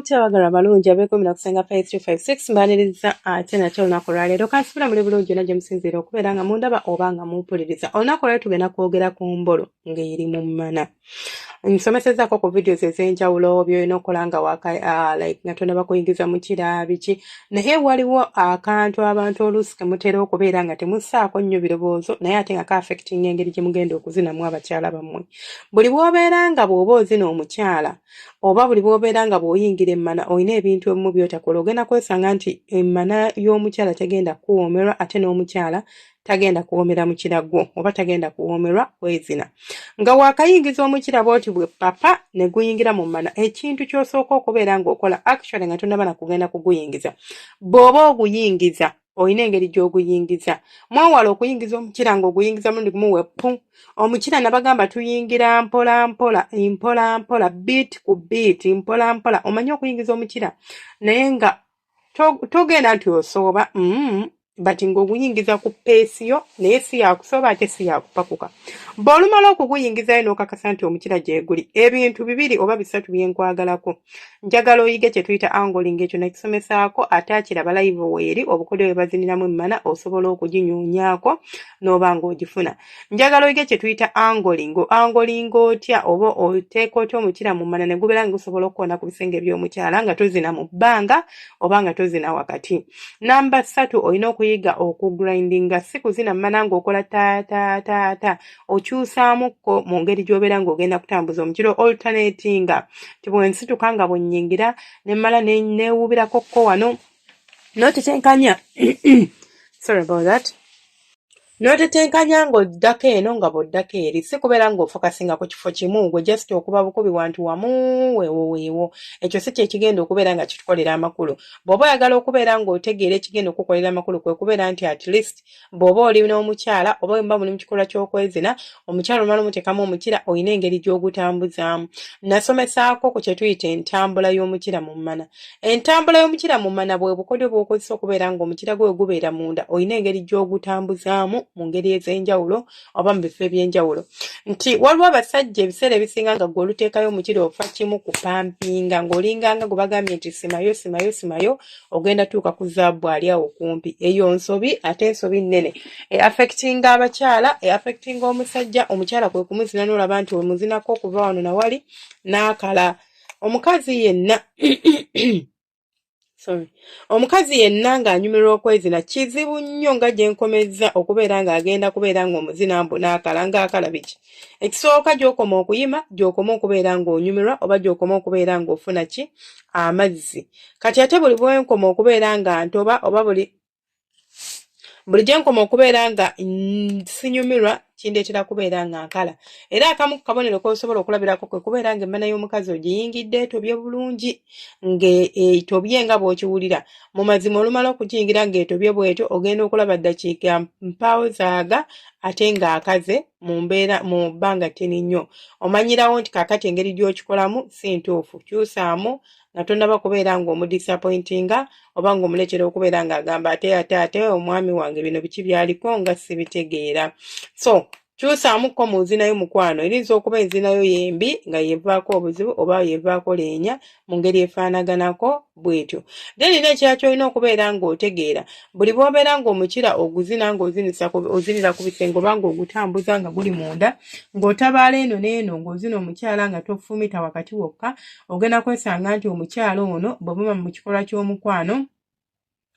mutya abagala abalungi abeekumi na kusenga pa 356 mbaniriza ate nate olunaku olwaleero kansibira muli bulungi yona gye musinziira okubeera nga mundaba oba nga mumpuliriza olunaku olwaleero tugenda kwogera ku mbolo ng'eri mu mmana nsomesezaako ku videos ez'enjawulo byolina okukola nga waka uh, like nga tonaba kuyingiza mukira biki naye waliwo akantu abantu oluusi kemutera okubeera nga temusaako nnyo birowoozo naye ate nga kaafectinga engeri gye mugenda okuzinamu abakyala bammwe buli bwobeera nga bw'oba ozina omukyala oba buli bwobeera nga bw'oyingira emmana olina ebintu ebimu byotakola ogenda kwesanga nti emmana y'omukyala tegenda kuwoomerwa ate n'omukyala tagenda kuwomera mukira gwo oba tagenda kuwomerwa kwezina nga wakayingiza omukira bwoti bwe papa ne guyingira mu mana ekintu kyosooka okubeera ng'okola actually nga tonaba na kugenda kuguyingiza bw'oba oguyingiza olina engeri gy'oguyingiza mwewala okuyingiza omukira ng'oguyingiza mulundi gumu weppu omukira nabagamba tuyingira mpola mpola mpola mpola biit ku biit mpola mpola omanye okuyingiza omukira naye nga togenda nti osooba mm, but ng'oguyingiza ku peesi yo naye si yakusooba ate si yakupakuka bw'olumala okuguyingizayo n'okakasa nti omukira gyeguli ebintu bibiri oba bisatu byenkwagalako njagala oyige kye tuyita angoling ekyo nakisomesaako ate akiraba layivu weeri obukodyo bwe baziniramu emmana osobola okuginyuunyaako n'oba ng'ogifuna njagala oyige kye tuyita angolingo angolingo otya oba oteeka otya omukira mu mana ne gubeera nga gusobola okukoona ku bisenge by'omukyala nga tozina mu bbanga oba nga tozina wakati namba ssatu olina okuyiga okugrindinga si kuzina mumana ng'okola taataataata okyusaamukko mu ngeri gy'obeera ng'ogenda kutambuza omukiro alternatinga ti bwensituka nga bwennyingira ne mmala neewuubirako kko wano n'otetenkanya sorry about that N'otetenkanya ng'oddako eno nga bw'oddako eri, si kubeera ng'ofokasinga ku kifo kimu, gwe just okuba bukubi wantu wamu, weewo weewo. Ekyo si kye kigenda okubeera nga kitukolera amakulu. Bw'oba oyagala okubeera ng'otegeera ekigenda okukukolera amakulu kwe kubeera nti at least bw'oba oli n'omukyala oba bwe muba muli mu kikolwa ky'okwezina, omukyala omala omuteekamu omukira olina engeri gy'ogutambuzaamu. Nasomesaako ku kye tuyita entambula y'omukira mu mmana. Entambula y'omukira mu mana bwe bukodyo bw'okozesa okubeera ng'omukira gwe gubeera munda olina engeri gy'ogutambuzaamu mu ngeri ez'enjawulo oba mu bifo eby'enjawulo nti waliwo abasajja ebiseera ebisinga nga gwe oluteekayo omukira ofa kimu kupampinga ng'olinganga gwe bagambye nti simayo simayo simayo ogenda tuuka ku zaabu ali awo kumpi eyo nsobi ate nsobi nnene e affectinga abakyala e affectinga omusajja omukyala kwe kumuzina n'olaba nti omuzinako okuva wano nawali n'akala na omukazi yenna sorry omukazi yenna ng'anyumirwa okwezina kizibu nnyo nga gye nkomezza okubeera ng'agenda kubeera ng'omuzina mbu n'akala ng'akala biki ekisooka gy'okoma okuyima gy'okoma okubeera ng'onyumirwa oba gy'okoma okubeera ng'ofuna ki amazzi kati ate buli bwenkoma okubeera nga ntoba oba buli buli gye nkoma okubeera nga sinyumirwa kindeetera kubeera nga nkala era akamu ku kabonero k'osobola okulabirako kwe kubeera nga emmana y'omukazi ogiyingidde etobye bulungi ng'etobye e, nga bw'okiwulira mu mazima olumala okugiyingira ng'etobye bw'etyo ogenda okulaba ddakiika mpaawo zaaga ate ng'akaze mu mbeera mu bbanga ttini nnyo omanyirawo nti kakati engeri gy'okikolamu si ntuufu kyusaamu nga tonaba kubeera nga omudisappointinga oba nga omuletera okubeera nga agamba ate ate ate omwami wange bino biki byaliko nga sibitegeera so kyusaamuko mu nzinayo mukwano erinza okuba enzinayo yembi nga yevaako obuzibu oba yevaako leenya mu ngeri efaanaganako bwetyo then era ekirala kyolina okubeera ng'otegeera buli bwobeera ng'omukira oguzina ng'ozinira ku bisenge oba ng'ogutambuza nga guli munda ng'otabaala eno n'eno ng'ozina omukyala nga tofumita wakati wokka ogenda kwesanga nti omukyala ono bwebuma mu kikolwa ky'omukwano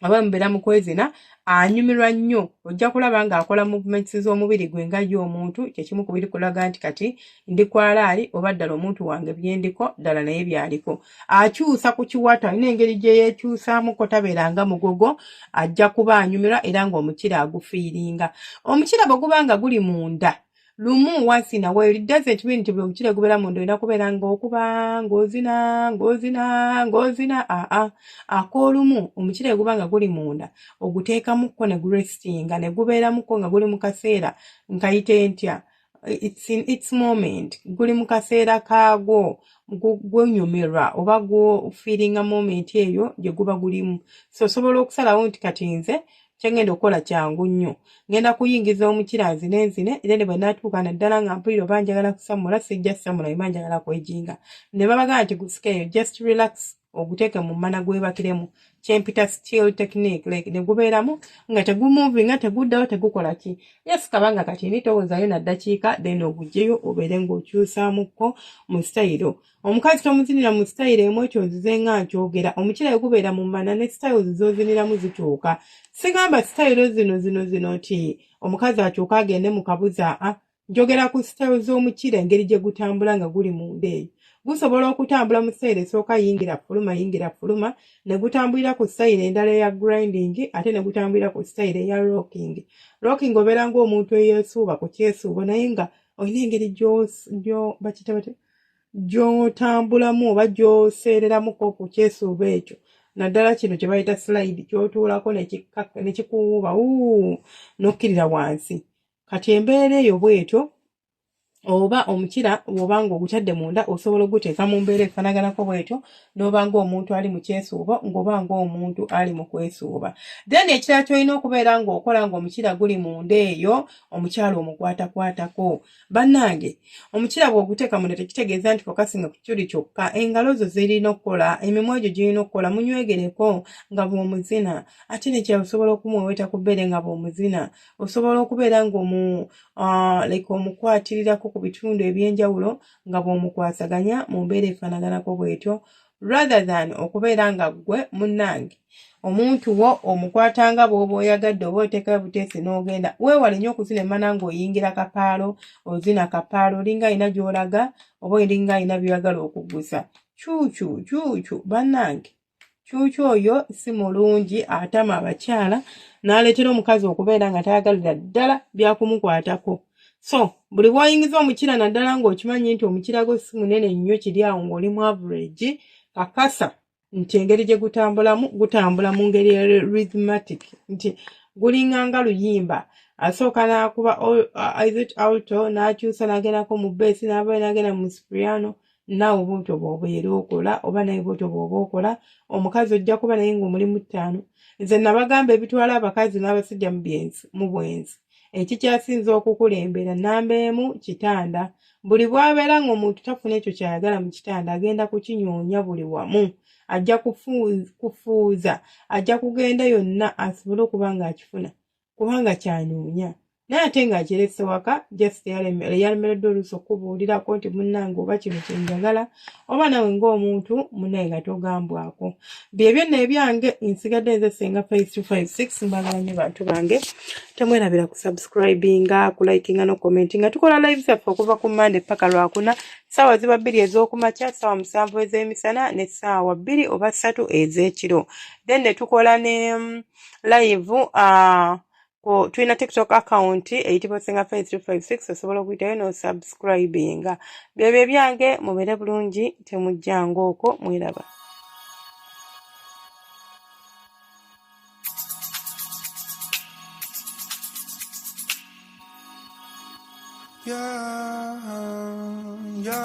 aba mubeera mu kwezina anyumirwa nnyo ojja kulaba ng'akola movements z'omubiri gwe nga ye omuntu kyekimu ku biri kulaga nti kati ndi kwalaali oba ddala omuntu wange byendiko ddala naye byaliko akyusa ku kiwato alina engeri gye yeekyusaamuko tabeera nga mugogo ajja kuba anyumirwa era ng'omukira agufiiringa omukira bwe guba nga guli munda lumu wasina well it doesn't mean nti buli omukira gubeera munda olina kubeera ngaokuba ngaozina ngaozina ngaozina aa ak'olumu omukira eguba nga guli munda oguteekamukko ne gurestinga ne gubeeramukko nga guli mu kaseera nkayite ntya it's in its moment guli mu kaseera kaagwo gwenyumirwa oba gwofiiringa moment eyo gye guba gulimu so osobola okusalawo nti kati nze kyengenda okukola kyangu nnyo ngenda kuyingiza omukira nzine nzine era ne bwe natuuka naddala nga mpulira oba njagala kusamula sijja samula yima njagala kwejinga ne babagamba nti gusikeeyo just relax oguteeke mu mmana gwebakiremu kyempita still technique like ne gubeeramu nga tegumuvinga teguddawo tegukola ki yes kabanga kati ni towoozayo naddakiika then ogugyeyo obeere ng'okyusaamukko mu sitayiro omukazi tomuzinira mu sitayiro emu ekyo nzize nga nkyogera omukirayo gubeera mu mana ne sitayiro zizoziniramu zikyuka sigamba sitayiro zino zino zino nti omukazi akyuka agende mu kabuza a ah, njogera ku sitayiro z'omukira engeri gye gutambula nga guli munda eyo gusobola okutambula mu sitayiro esooka yingira fuluma yingira fuluma ne gutambulira ku sitayiro endala eya grinding ate ne gutambulira ku sitayiro eya rocking rocking obeera ng'omuntu eyesuuba ku kyesuubo naye nga olina engeri gy'o bakita batya gy'otambulamu oba gy'oseereramuko ku kyesuuba ekyo naddala kino kye bayita slide ky'otuulako ne kikuwuuba uu n'okkirira wansi kati embeera eyo bw'etyo oba omukira bw'oba ng'ogutadde munda osobola okuguteeka mu mbeera efanaganako bw'etyo n'oba ng'omuntu ali mu kyesuubo ng'oba ng'omuntu ali mu kwesuuba then ekirala ky'olina okubeera ng'okola ng'omukira guli munda eyo omukyala omukwatakwatako Bannange, omukira bw'oguteeka munda tekitegeeza nti kokasinga ku kituli kyokka, engalo zo zirina okukola, emimwa gyo girina okukola, munywegereko nga bw'omuzina. Ate ne kya osobola okumweweta ku bbeere nga bw'omuzina. Osobola okubeera ng'omu uh, like omukwatirirako ku bitundu eby'enjawulo nga bw'omukwasaganya mu mbeera efaanaganako bw'etyo. rather than okubeera nga ggwe munnange omuntu wo omukwata nga bw'oba oyagadde oba oteekayo buteesi n'ogenda weewale nnyo okuzina emmana ng'oyingira kapaalo ozina kapaalo olinga alina gy'olaga oba olinga alina by'oyagala okuguza kyukyu kyukyu bannange kyukyu oyo si mulungi atama abakyala n'aleetera omukazi okubeera nga tayagalira ddala byakumukwatako so buli bwoyingiza omukira naddala ng'okimanyi nti omukira gwe si munene nnyo kiri awo ng'oli mu average kakasa nti engeri gye gutambulamu gutambula mu ngeri ya rhythmatic nti gulinga nga luyimba asooka n'akuba is it auto n'akyusa n'agendako mu beesi n'avayo n'agenda mu spriano naawe bwotyo bwoba era okola oba naye bwotyo bwoba okola omukazi ojja kuba naye ngaomulimu ttaano nze nabagamba ebitwala abakazi n'abasajja mubyenzi mu bwenzi ekikyasinza okukulembera namba emu kitanda buli bwabeera ngaomuntu tafuna ekyo kyayagala mu kitanda agenda kukinyoonya buli wamu ajja kufuuza ajja kugenda yonna asobole okuba ngaakifuna kubanga kyanoonya naye ate ng'akirese waka just yalemereddwa oluusi okukubuulirako nti munnange oba kino kyenjagala oba nawe ng'omuntu munaye nga togambwako bye byonna ebyange nsigadde nze senga 5256 mbagala nyo bantu bange temwerabira ku subscribinga ku likinga no commenti nga tukola live zaffe okuva ku mande paka lwakuna saawa ziba bbiri ez'okumakya saawa musanvu ez'emisana ne saawa bbiri oba ssatu ez'ekiro then ne tukola ne live uh, ku tulina tiktok account eyitibwa osinga fe 356 osobola okuyitayo nosubscribinga byebyo ebyange mubeere bulungi temujjanga okwo mwiraba Yeah, yeah.